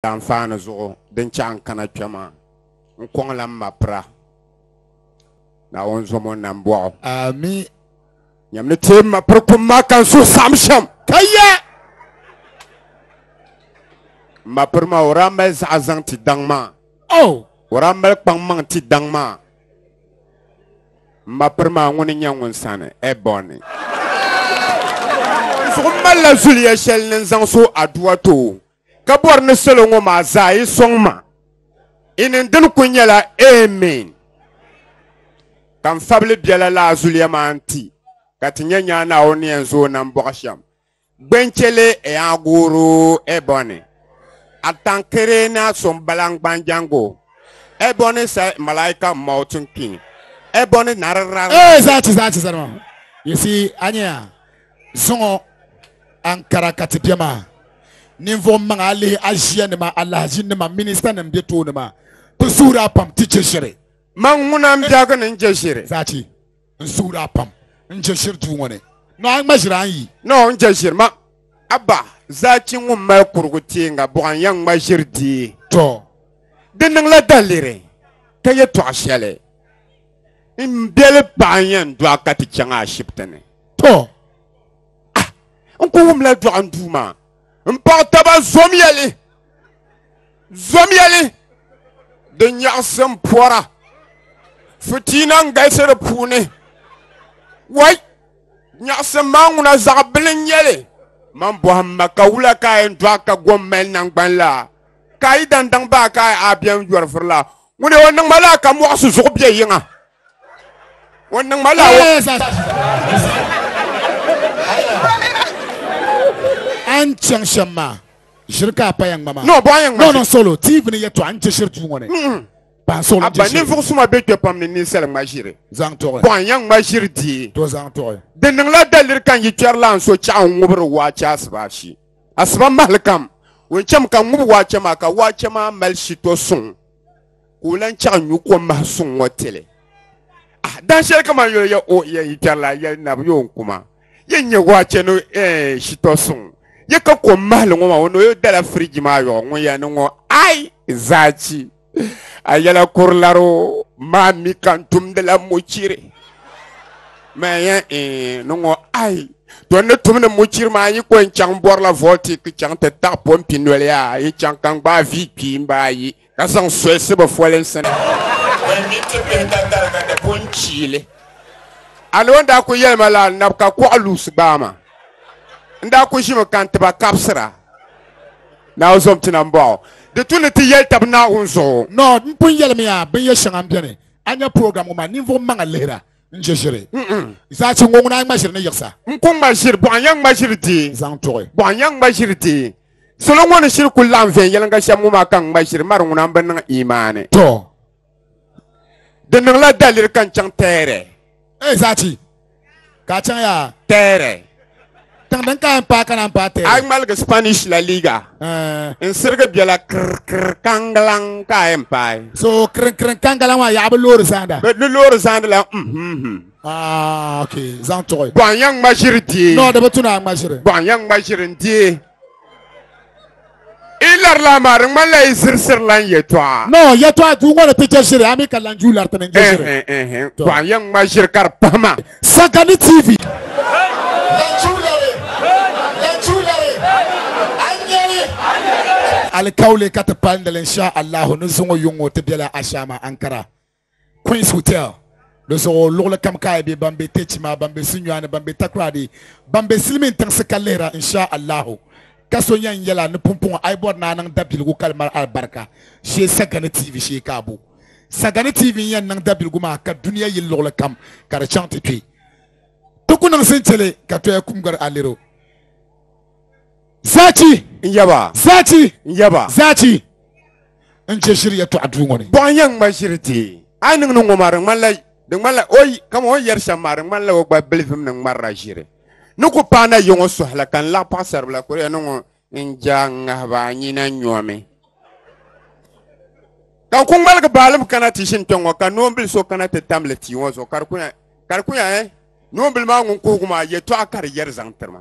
Daanfaani zuɣu din chaɣ n kana kpɛ maa, n kɔŋla m ma pira. Naawuni zom o nam bɔɣu. Ami. Nyam ni teei m ma piri kum maa ka n suhu saɣim shɛm. Ka ya! M ma piri maa, o daa mali zaɣa zaŋ ti daŋ maa. Oh! O daa mali kpaŋ maŋ ti daŋ maa. M ma piri maa ŋuni n-nyɛ ŋun sani Ɛbɔni. N suhu malila zuliya shɛli ni n zaŋ so Adua too. ka bɔri ni salo ŋɔ maa zaa yi sɔŋ ma i ni dini ku nyɛla Amen ka n fabili biɛla laa zuliya maa nti ka ti nyɛ nyaa Naawuni ni yɛn zooi nam bɔɣu shɛm Gbenchele Eaguru Ebony Atankere na sɔŋ balaŋ gbanjango Ebony sa malaika mountain king Ebony nariraŋ Ee zaa ti zaa ti zani maa you see a nya ya. Zuŋɔ Ankara ka ti be maa. Ninvuɣ maŋ a lihi aʒianima, alahazinima, ministanim be tooni maa, bɛ suhir a pam ti je shiri. Man ŋuna m-biɛhigi ni n-je shiri. Zachi, n suhir a pam n-je shiri duu ŋɔ ni. Nɔ a ŋma ʒiri a ni yi. Nɔ n-je ʒiri ma. Abba, Zachi ŋun mali kurigu tiiŋa buɣa n-yɛn ŋma ʒiri dii. Tɔ! Di niŋla daliri ka yɛtɔɣ shɛli m biɛli paɣa n-yɛn dɔɣi ka ti chaŋ ashibiti ni. To, a, n ku wumla dɔɣim duu maa. M paɣ taba zomya li, zomya li, di nyaɣisi m pɔra. Fitiina n-galisi di puuni. Wai, nyaɣisim maa ŋuna zaɣ bili n-nyɛ li. Man bɔhim ma ka wula ka a yɛn dɔɣi ka gom mali naŋgban la? Ka a yi dan daŋ ba a ka a biɛm yɔri vuri la? Ŋuni o niŋ ma lala ka mɔɣisi zuɣu biɛ yiŋa? O niŋ ma la An chaŋ shɛm maa ʒiri ka a paya ŋma maa No, bɔ a yɛn ŋma No, no, solo tiivi ni yɛtɔɣa n chɛ shiri duu ŋɔ ni Ban solo n chɛ shiri ninvuɣu suma be kpɛ pam ni ninsali ŋma ʒiri Zaŋ tɔɣi Bɔ a yɛn ŋma ʒiri dii To zaŋ tɔɣi Di niŋla daliri ka n yi kpɛri la n so chɛɣu n ŋubiri waache asiba ashi asiba mahili kam O chɛmi ka n ŋubi waache maa ka waache maa mali shito suŋ k'o lan chaɣi nyu kom mahi suŋ ŋɔ tili ah, dan shɛli kamani yoli ya o ya yitarila ya nabi yo n kuma ya nyɛ waa chɛni eh, shitɔ suŋ ya ka kom mahili ŋɔ maa o ni yo dala firiji maa yɔɣu ŋun ya ni ŋɔ ai zaachi a yɛla kurilaro maa mi ka n tumdila muchiri Mɛ yɛn ni ŋɔ ayi tɔ ni tum ni muchiri maa yi ko n chaŋ bɔrila vɔlti ki chaŋ ti taɣi pɔmpi noli a yi chaŋ ka n gbaai vi kpii n baa yi ka zaŋ soyisi bi folinsi ni ban mi ti bihi ka tariga di pun chiili a ni o daa ku yɛli ma la nab ka kuɣa luusi gbaai ma n daa ku ʒimi ka n tiba kabisira na o zom ti na n bɔɣu di tu ni ti yɛli tabi naawuni zuɣu. Nɔ n pun yɛlimiya binyɛ shɛŋa n beni a nya program ŋɔ maa ninvuɣu maŋa lihira. n chɛ ʒiri zachi ŋɔ ŋuna ŋma ʒiri ni yiɣisa n ku ŋma ʒiri bɔɣa ya ŋma ʒiri dee zaŋ tuɣi bɔɣa ya ŋma ʒiri dee salo ŋɔ ni shiri ku laɣim viɛnyɛliŋga shɛm ŋɔ maa ka n ŋma ʒiri mari ŋuna n bi niŋ imaani tɔ di niŋla daliri ka n chaŋ tɛɛrɛ ee zachi ka a chaŋ yaa tɛɛrɛ Tiŋ din ka n paai ka naan paai A yi ŋmaligi Spanish La Liga, eh. n sirigi biɛla kirikiri kaŋgalaŋ ka a yɛn paai. So kirinkiriŋ kaŋgalaŋ maa yaɣa bi loori zaanda. Bɛ di loori zaandi la m-hmhim. Ah, okay. Zaŋ tuɣi. Bɔhim ya ŋma ʒiri deei. No, di bi tu ni a ŋma ʒiri. Bɔhim ya ŋma ʒiri n-deei. i larila maa di ŋmanila i zirisirila n yɛtɔɣa no yɛtɔɣa duu ŋɔ ni ti je ʒiri ami ka lan duu lariti ni n je ʒiri Ɛhɛn, ɛhɛn. Tɔ. Paɣa yɛn ŋma ʒiri ka di pahima sagani tv alikauli ka ti palindili insha allahu ni zuŋɔ yuŋ ŋɔ ti bela ashaama ankara Queens Hotel di zuɣu luɣuli kam ka a be ban be Techima ban be Sunyani ban be Takoradi ban be silimin tiŋsi ka lihira insha Allahu ka so yan yɛla ni pumpɔŋɔ a yi bɔri ni a niŋ dabiligu ka di mali alibarika shee Sagani TV shee ka a bo Sagani TV n yan niŋ dabiligu maa ka dunia yili luɣuli kam ka di chaŋ ti kpe ti ku niŋ sintili ka toya kumgari a lero Zaachi n yaba. Zaachi n yaba. Zaachi n chɛ ʒiri yɛtɔɣa duu ŋɔ ni. Bɔɣa yɛn ŋma ʒiri ti. A yi niŋ ni ŋɔ maa di ŋmanila di ŋmanila o kama o ni yɛri shɛm maa di ŋmanila o gba bilivim ni ŋmarila ʒiri ni ku paai na yɔŋɔ sɔhi la ka n laɣi paɣisaribila kuriya ni ŋɔ n ja ŋahiba a nyina nyɔmi ka n ku ŋmaligi baalim kana ti ʒini kpɛŋ ŋɔ ka noonbil so kana ti tam li tia ŋɔ zuɣu ka di ku nya ka di ku nya eh noonbil maa ŋun kuhigu maa yɛtɔɣa ka di yɛri zaŋ tiri ma.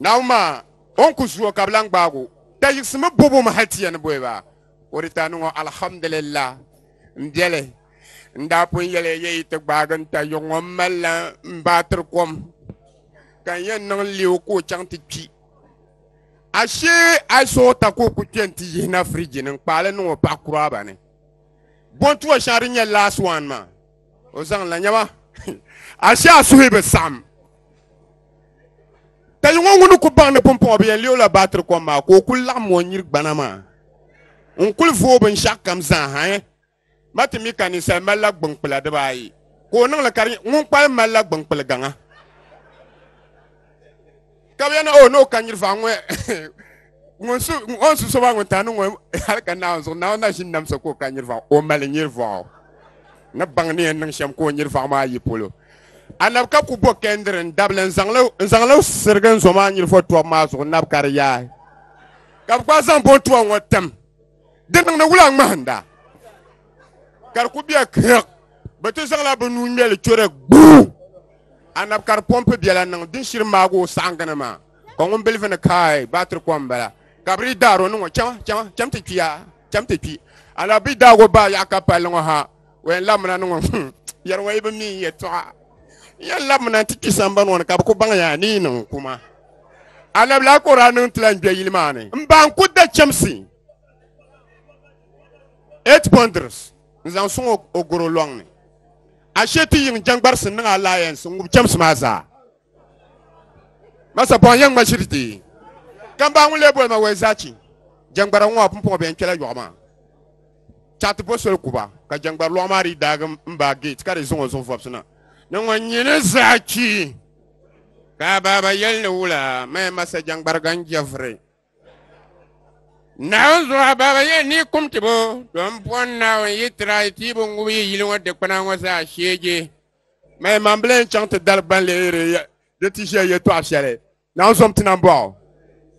Naawuni maa o ni ku zuo ka bi lan gbaag o, da yiɣisimi bɔb o mi hal ti yɛn boi ba. O di daa niŋ o alhamdulillah. M biɛli, n daa pun yɛl ya yi ti gbaag n tayuɣ ŋɔ m malila m baatiri kom ka n yɛn niŋ leei o ka o chaŋ ti kpi. Ashee a yi sooi ta ka o ku kpe nti yihina firiji ni n kpaai li niŋ o paɣ kuraaba ni. Bɔntuwa shɛŋa di nyɛla last one maa. o zaŋ la nyɛma ashee a suhi bi saɣam ka yi ŋɔ ŋuni ku baŋ ni pumpɔŋɔ bi yɛn leei la baatiri kom maa ka o ku laɣam o nyiri gbana maa n kuli vooi binshaɣu kam zaa ha eh? ma ti mi ka ninsal mali la gbunkpula dibaayi ka o niŋli ka di nyɛ ŋun kpalim mali la gbunkpuli gaŋa ka bɛ na o n'o ka nyirifa ŋɔ ŋun su ŋun su soba ŋun ta ni ŋɔ hali ka naawun zuɣu naawun na ʒini namsa ka o ka nyirifa o mali nyirifɔɣu ni baŋ ni yɛn niŋ shɛm ka o nyirifɔɣu maa yi polo anab ka ku bo kɛndiri n dabili n zaŋli sirigi n zo maa nyirifɔ tɔbu maa zuɣu nab ka di yaai ka bi gba zaŋ bo tɔbu ŋɔ tim di niŋdi wula ŋmahinda ka di ku bɛ kirk bi ti zaŋla bi nuu ŋmɛli chɔri gbuu anabi ka di pɔmpi biɛla niŋ din shiri maagi o saɣangini maa ka ŋun bilifu ni kaai baatiri kom bala ka bi daa ro niŋo chɛm ti kpiya chɛm ti kpi anabi bi daag o baa yaɣa ka palli ŋo ha O yɛn labimina ni ŋɔ hmm, yɛri wa yi bi mi n yɛtɔɣa n yɛn labimina n ti kpi sambani ŋɔ ni ka bi ku baŋ ya ni yi niŋ kuma alabila ka o daa niŋ tila n gbɛ yili maa ni n ba n ku da chɛmsi eight bundles n zaŋ suŋ o goro lɔŋ ni ashe ti yiŋ jɛŋgbarisi niŋ alliance n ŋubi chɛmsi maa zaa masa pɔhim yɛn ŋma shiri ti ka baa ŋun lee boli ma wai zaa chi jɛŋgbara ŋɔ a pun pɔhi bɛ yɛn kpɛla yɔɣu maa chaɣi ti bo soli kuba ka jɛŋgbari lɔɣu maa di daagi m baa geeti ka di zaŋ o zuɣu vɔbisi na ni ŋɔ nyini zaa chi ka a baaba yɛli ni wula maya masa jɛŋgbari gan jɛviri naawuni zuɣu a baaba yɛn ni kum ti bo don pɔn naawuni yi tira yi tiibu ŋubi yi yili ŋɔ dikpuna ŋɔ zaa sheege Maya man bile n chaŋ ti dali gban lihiri di ti ʒiya yɛtɔɣa shɛli naan zom ti nan bɔɣu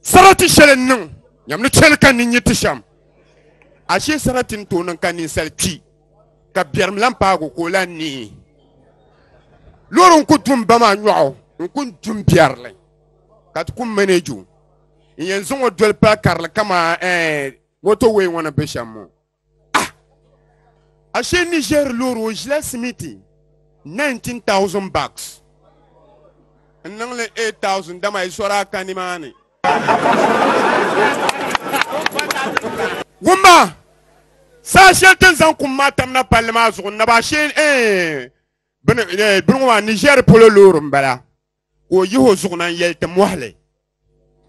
sarati shɛli n niŋ nyam ni chɛli ka ninyi ti shɛm ashee sarati n tooi niŋ ka ninsali kpi ka biɛrim lan paagu ka o lan nihi loori n ku dum ba maa nyɔɣu n ku dum biɛrili ka ti ku maneju n yɛn zaŋ o doli pali karili kamaa moto wee ŋɔ ni be shɛm ŋɔ ashe niger loori o ʒila simiti 19000 bucks n niŋli 8000 dama i sɔra ka nimaani wumma saa shɛli tin zaŋ kum maa tamna palli maa zuɣu naba ashe bini ŋɔ maa niger polo loori n bala ka o yihi o zuɣu na n-yɛli ti mɔhili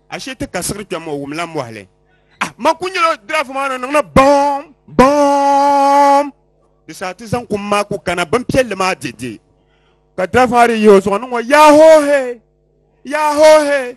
ashe ti ka siɣiri kpɛm o wumla mɔhili ah ma ku nyɛla drafu maa ni niŋla bɔm bɔm di saa ti zaŋ kum maa ku kana bimpiɛlli maa dede ka drafu maa di yihi o zuɣu ni ŋɔ yaahoohe yaahoohe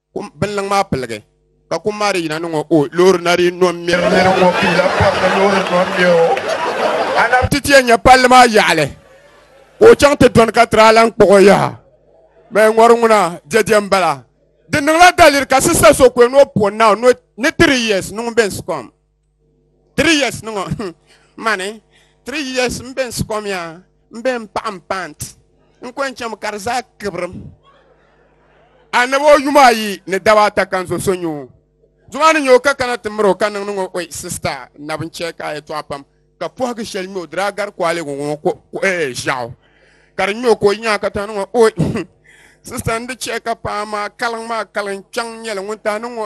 Kum binliŋ maa piligi ka kum maa di yina ni ŋɔ o loori na di nɔ ŋmɛri nɛri ŋɔ piila pam ni loori nɔ ŋmɛ o ana ti tiɛ nyɛ palli maa yaɣali ka o chaŋ ti dɔni ka tiri alan kpuɣi o yaha mɛ ŋɔri ŋuna jɛjɛ n bala di niŋla daliri ka sista so kwe ni o puɣi naaw ni tiri yes niŋ bɛns kɔm 3 years ni ŋɔ hmm, mani 3 years m be n sikom yaa m be n paɣa m pant n ko n cham ka di zaa kibrim annabi o yuma ayi ni daba ata kan zo so nyu zuma ni nyo ka kana ti miro ka niŋdi ŋɔ oi sista nabi n chɛ ka a yɛtɔɣa pam ka pɔhigi shɛli nyo diri a gari koaligu ŋɔ ko ee ʒiɛɣu ka di nyo ka o nyaa ka ta ni ŋɔ oi sista n di chɛ ka paɣa maa kaliŋ maa kaliŋ kpɛŋ nyɛli ŋun ta ni ŋɔ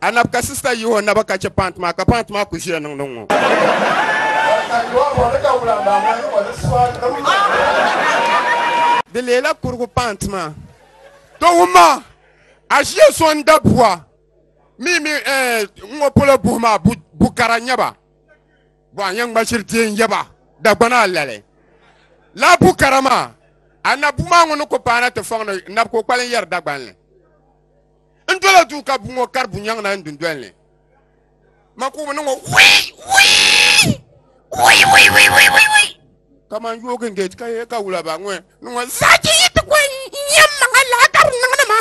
a nab ka sista yihi o naba ka chɛ paanti maa ka paanti maa ku ʒiya niŋdi ŋɔ di leela kurigu paanti maa to wumma a ʒiya so n da buwa mi mi eh, ŋɔ polo buhi maa bu bu kara nyɛba bo a yɛn ŋmashiri ti n yɛba dagbana lali la bu kara maa a na bu maa ŋɔ ni ku paana ti fɔŋ ni nab ko kpali n yɛri dagbanli n dola duu ka bu ŋɔ kari bunyɛŋ na n dundoli ni ma ku ni ŋɔ kamani yoogi n gɛti ka yɛ ka wula ba ŋɔ ni ŋɔ zaaki yi ti kɔn nyɛm maŋa laɣa ka di niŋdi ma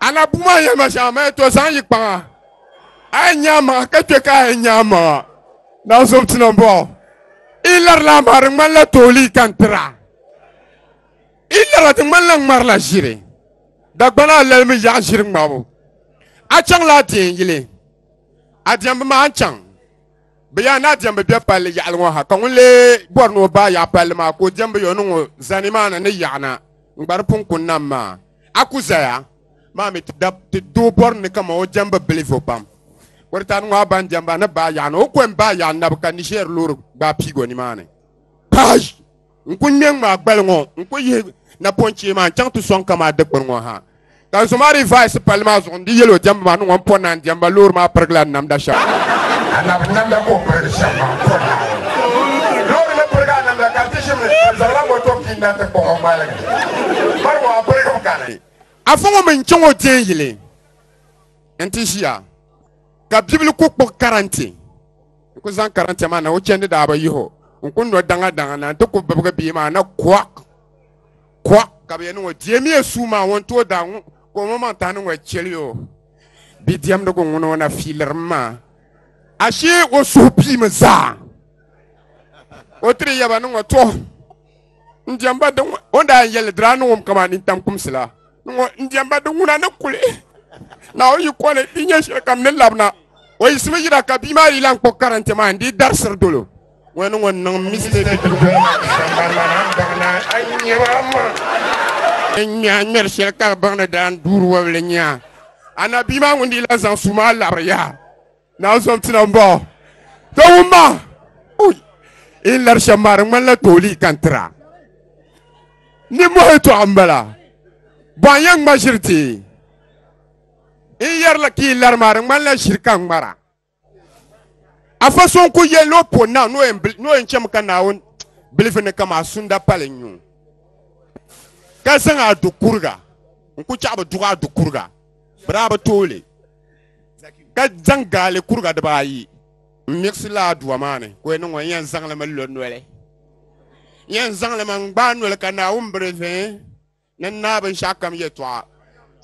ana bu maa yɛli ma shɛŋa ma to zaŋ yi kpaŋa a yɛn nyaa maŋa ka kpɛ ka a yɛn nyaa maŋa na zom ti na bɔ i lari la maa di ŋmanila toolii ka n tira I lala ti ŋmanila ŋmari la ʒiri dagbana a lalimi yaɣa ʒiri ŋmabu a chaŋ la a deei yili a diɛmbu maa n chaŋ bi yaa ni a diɛmbu bɛ palli yaɣali ŋɔ ha ka ŋun lee bɔri ni o baa yaɣa palli maa ka o diɛmbu yo niŋ o zani maa na ni yaɣana ŋgbari punkun nam maa a ku zaya maa mi ti doo bɔri ni kama o diɛmbu bilivo pam kɔritani ŋɔ a ban diɛmba ni baa yaɣana o kɔm baa yaɣa nabu ka Niger loori gbaai piigo nimaani. n ku ŋmɛ ŋmaa gbali ŋɔ n ku yihi napɔnchee maa n chaŋ ti sɔŋ ka maa dikpuni ŋɔ ha ka n so maa di vaisi palli maa zuɣu n di yɛli o diɛmbu maa ni ŋɔ n pɔ naan diɛmba loori maa pirigila namda shɛm anabi namda ka o pirigi shɛm maa pɔ naai loori ni pirigi a namda ka ti ʒim ni ka zaŋla moto pii na ti kpuɣi o ŋmaligi bari ŋɔ a pirigim kani afa ŋɔ mi n chaŋ o deei yili n ti ʒiya ka bibili ku kpuɣi karante n ku zaŋ karante maa na o chɛndi daa bi yiho n ku nɔ daŋa daŋa na n ti ku bibigi bia maa na kɔ kɔ ka bi yɛn niŋ o deemiya suu maa ŋun tooi daa ŋu ka o maŋ tahi niŋ o chɛli o bi diɛmdigu ŋun o na fiilirim maa ashee o suhu piimi zaa o tiri yaba niŋ o tɔ n diɛmba di ŋ- o ni daa yɛn yɛli dira ni ŋum kama ni tam kumsi la ni ŋɔ n diɛmba di ŋuna ni kuli na o yi kɔli di nyɛ shɛli kam ni labina o yiɣisimi yira ka bia maa yi lan kpuɣi karante maa n dii darisiri dolo ŋɔ ni ŋɔ niŋ mistake n ŋmɛ a ŋmɛri shɛli ka di baŋ ni daan duuri wɔbili nya ana bia maa ŋun dii lan zaŋ suu maa labiri yaha Naa zɔbtina n bɔɔ to wum ma in lari shɛm maa di ŋmanila tooli ka n tira ni mɔhi tɔɣa n bala bɔn yɛn ŋma ʒiri ti in yɛrila ka in lari maa di ŋmanila ʒiri ka n ŋmara a fa so n ku yɛli o po na ni o yɛn bili- ni o yɛn chɛmi ka naawuni bilifu ni kama sunda pali n yuŋ ka zaŋ a du kuriga n ku chaɣi bi duɣa a du kuriga bi daa bi tooli ka zaŋ gaali kuriga dibaayi n miɣisi laa duwa maa ni ka o niŋ o yɛn zaŋli mi lo noli yɛn zaŋli mi n gbaai noli ka naawuni biri vɛ ni naa binshaɣu kam yɛtɔɣa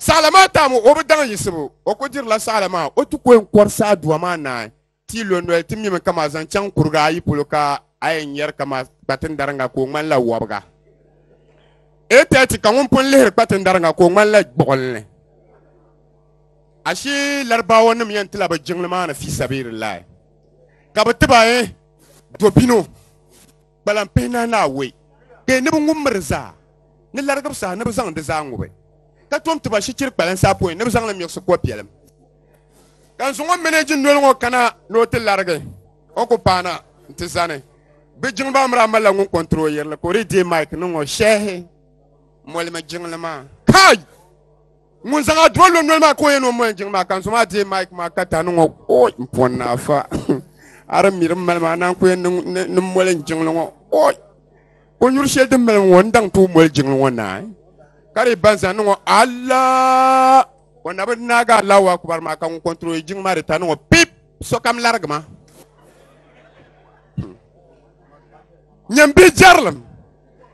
saɣala maa tam o bi daŋ yiɣisibu o ku dirila saɣala maa o ti ko n kɔri saa duwa maa naai Ti lo noli ti mimi kama zaŋ chaŋ kuriga ayi polo ka a yɛn yɛri kama kpatin dariŋa ka o ŋmanila wɔbiga. 8:30 ka ŋun pun lihiri kpatin dariŋa ka o ŋmanila gbuɣinli. Ashi Larabawa nim yɛn tila bi jiŋli maa ni fi sabiilillahi ka bi ti ba eh, dobino. Kpalan pihi nahi naawɔi bee ni bɛ ŋub miri zaa, ni larigib saha ni bɛ zaŋ di zaa ŋubi, ka tom ti ba shichiri kpalansi apɔin ni bɛ zaŋ li miɣisi kɔ biɛlim. Ka n zaŋ o mɛnɛji noli ŋɔ kana ni o ti larigi, o ku paana nti zani. Bɛ jiŋli maa miri a malila ŋun kɔntiri o yirili, ka o dii deei Mike niŋ o shɛhi molimi jiŋli maa. Kai! ŋun zaŋ a duwa lɔnnɔli maa ka o yɛn o mɔɛ jiŋ maa ka n so maa deei Mike maa ka tani ŋɔ oi n pɔn ni afa ara miri n mali maa naan ko yɛn ni mɔli n jiŋli ŋɔ oi o nyuri shɛli din mali ŋɔ n daŋ ti o mɔli jiŋli ŋɔ naa ka di ban zaŋ niŋɔ ala o na bi naaga alawa kubar maa ka ŋun kɔntroli jiŋ maa di tani ŋɔ pip sokam larigi ma nyɛmbi jɛrilim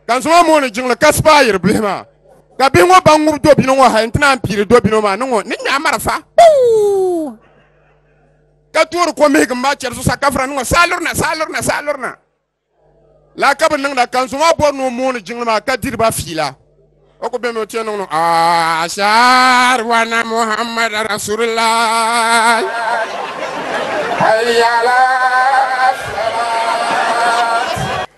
ka n zaŋ mooni jiŋli ka sipaayiri bihi maa ka bihi ŋɔ ban ŋubi dobino ŋɔ hali n ti naan piiri dobino maa ni ŋɔ ni nyaɣi marafa ka toori ko mihigu maa chɛri zuɣusaa ka fura ni ŋɔ saa lurina saa lurina saa lurina la ka bi niŋda ka n zaŋ maa bɔri ni o mooni jiŋli maa ka diri ba fiila o ku bɛmi o tiɛ niŋ niŋ ashar wana muhammad rasulillah hayala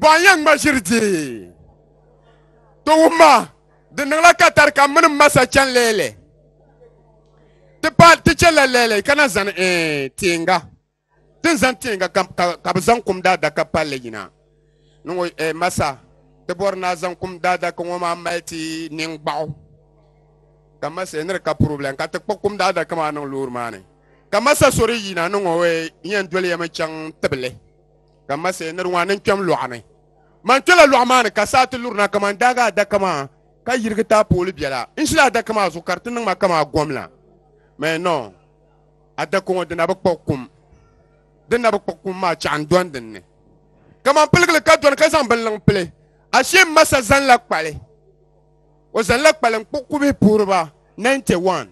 bɔn yɛn ŋma ʒiri dii ti wumma di niŋla ka tari ka mini masa chɛn leele ti pa ti chɛ la leele ka na zani eh, tiinga ti ni zani tiinga ka, ka, ka bi zaŋ kum daadaka palli yina ni ŋɔ eh, masa ti bɔri na zaŋ kum daadaka ŋɔ maa mali ti niŋ gbaɣu ka masa eh, ni di ka problem ka ti kpa kum daadaka maa niŋ loori maa ni ka masa so di yina ni ŋɔ eh, yɛn doli yɛmi chaŋ tibili ka ma sɛ niri ŋɔ ni n kpɛm lɔɣu ni man kpɛla lɔɣu maa ni ka saa ti lurina kaman daaga adaka maa ka yirigi taapooli biɛla n ʒila adaka maa zuɣu ka di ti niŋ ma kaman gom la mɛ nɔ adaka ŋɔ dina bi kpuɣi kum dina bi kpuɣi kum maa chɛɣu n dɔni din ni kaman piligili ka dɔni ka zaŋ binliŋ pili ashee m ma sa zanla kpali o zanla kpali n kpuɣi kubihi puhiri ba 91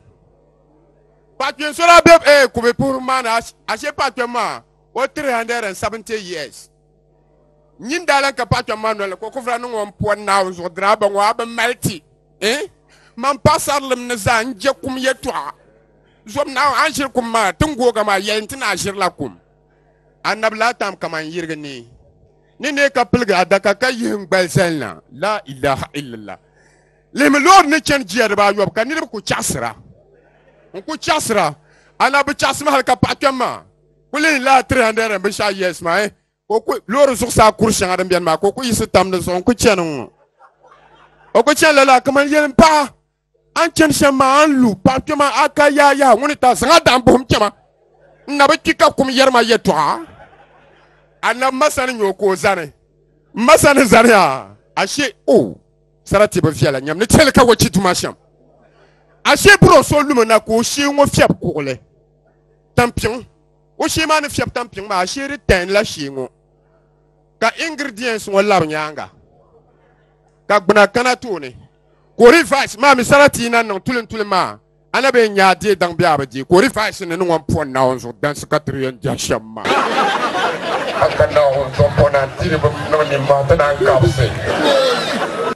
paɣa kpɛm so daa be eh, kubihi puhiri maa ni ashee paɣa kpɛm maa O 370 years nyin daa lan ka paɣa kpɛm maa noli ka o kufra niŋ o mpuan naawu zuɣu diraaba ŋɔ a bi mali ti eh? man paɣasarilim ni zaa n je kum yɛtɔɣa zɔb naawu a ni ʒiri kum maa tin googa maa yɛli nti ni a ʒirila kum annabi laa tam kaman yirigi ni ni ne ka piligi adaka ka yihi n gbali zalina la ilaha illallah lihimi loori ni chani jiya dibaa yɔbu ka niriba ku chaɣasira n ku chaɣasira ana bi chaɣasimi hali ka paɣa kpɛm maa kuli la 300 binshaɣu years maa eh, ka o ku loori zuɣusaa kuri shɛŋa din biɛni maa ka o ku yiɣisi tam di zuɣu n ku chɛni ŋɔ o ku chɛni lala kamani yɛlim paɣa an chɛni shɛm maa an lu paɣa kpɛma a ka yaa yaha ŋuni ta zaŋ a daɣam buɣum kpɛma n na bi kpi ka kum yɛri ma yɛtɔɣa anabi ma sani nyɛ o ka o zani n ma sani zaniya ashe o oh, sarati bi viɛla nyɛm ni chɛli ka wachi tuma shɛm ashe buro so lumi na ka o shee ŋɔ fiɛbi kuɣuli tampiŋ o shee maa ni fiɛbi tampiŋ maa shee di tɛn la shee ŋɔ ka ingredients ŋɔ labi nyaanga ka gbuna kana tooni ka o revise maa mi sarati yi na niŋ tulin tulin maa a na bee nyaa deei daŋ bee a bi deei ka o revise ni ni ŋɔ pɔ naawuni zuɣu dansi ka tiri yɛn jɛhi shɛm maa haka naawuni zuɣu pɔ na tiri bi niŋ nimmaa ti naan kabisi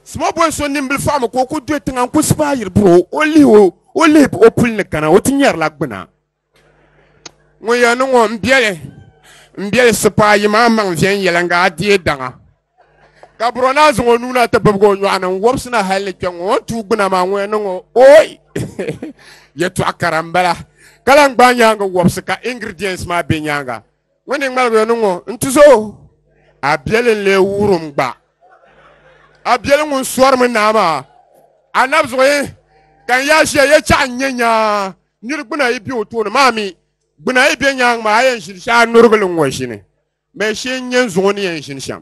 Small boy so nimbili faɣimi ka o ku dɔyi tiŋa n-ku sipaayiri buri o o lihi o O lihi o puli ni kana o ti nyɛrila gbina ŋɔ ya ni ŋɔ n biɛli n biɛli sipaa yi maa maŋ viɛn yɛlanga a deei daŋa ka buro naa zaŋ o nuuna ti bibigi o nyɔɣu ni n wɔbisina hali ni kpɛ ŋɔ o tuu gbina maa ŋɔ ya ni ŋɔ oi yɛtɔɣa kara n bala ka lan gbaai nyaanga wɔbisi ka ingredients maa bɛ nyaanga ŋɔ ni ŋmaligi ni ŋɔ n ti zo a biɛli n lee wurim gba a biɛli ŋun sɔrimi naa maa a nabzuɣu ka n yaa ʒiya yɛ chaɣa n nyɛ nyaa niri gbuna yi bɛ o tooni maa mi gbuna yi bɛ nyaangi maa a yɛn ʒini shɛm a nurigili n ŋɔ ʒini mɛ shee n nyɛ n zuɣu ni yɛn ʒini shɛm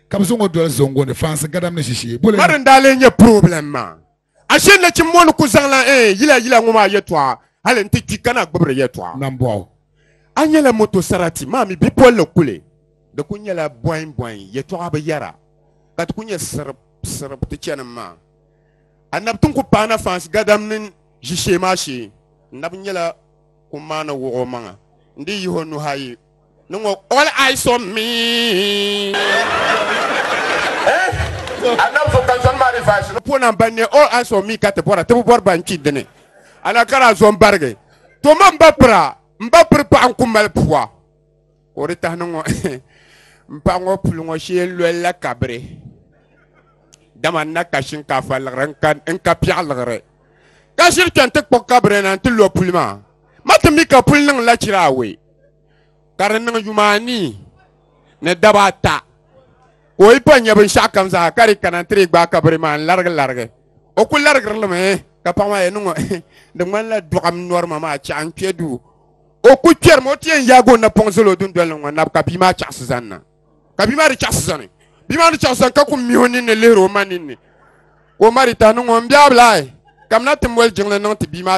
ka bi zaŋ o doli zongo ni fansi gadam ni shishee bole mari n daa lee nyɛ problem maa ashe nachimbo ni ku zaŋla ɛɛ eh, yila yila ŋɔ maa yɛtɔɣa hali n ti kpi ka na gbubi di yɛtɔɣa nambɔɣu a nyɛla moto sarati maa mi bipolili kuli di ku nyɛla bɔin bɔin yɛtɔɣa bi yɛra ka ti ku nyɛ sirib sirib ti chɛnim maa anabi tin ku paana fansi gadam ni shishee maa shee n nabi nyɛla ku maani wuɣi o maŋa n di yihi o nuhi ayi Ni ŋɔ all eyes on me. Puo na ban ne all eyes on me ka ti bɔra ti bi bɔri ban kpi dini ala ka daa zɔn barigi to man ba pira n ba piri paɣa n ku mali pua ka o di tahi ni ŋɔ n paɣa ŋɔ puli ŋɔ shee n loli la kabiri dama n na ka shinkaafa liɣiri n ka n ka piɛɣu liɣiri ka shiri kpɛn ti kpuɣi kabiri na n ti lo puli maa ma ti mi ka puli niŋ la chira away ka di niŋ yuma anii ni daba ata ka o yi pa nyɛ binshaɣu kam zaa ka di kana ti di gbaai kabiri maa n larigi larigi o ku larigiri limi ka paɣa maa yɛn niŋ di ŋmanila dɔɣim nɔrima maa chaɣ n kpɛ duu o ku kpɛrimi o ti yɛn yaagi o napɔŋ zali o dundoli ni ŋɔ nabu ka bia maa chaɣasi zani na ka bia maa di chaɣasi zani bia maa ni chaɣasi zani ka ku mihi o ninni lihiri o ma ninni ka o ma di tahi niŋ ŋɔ n bia bilaahi kamina ti moli jiŋli niŋ ti bia maa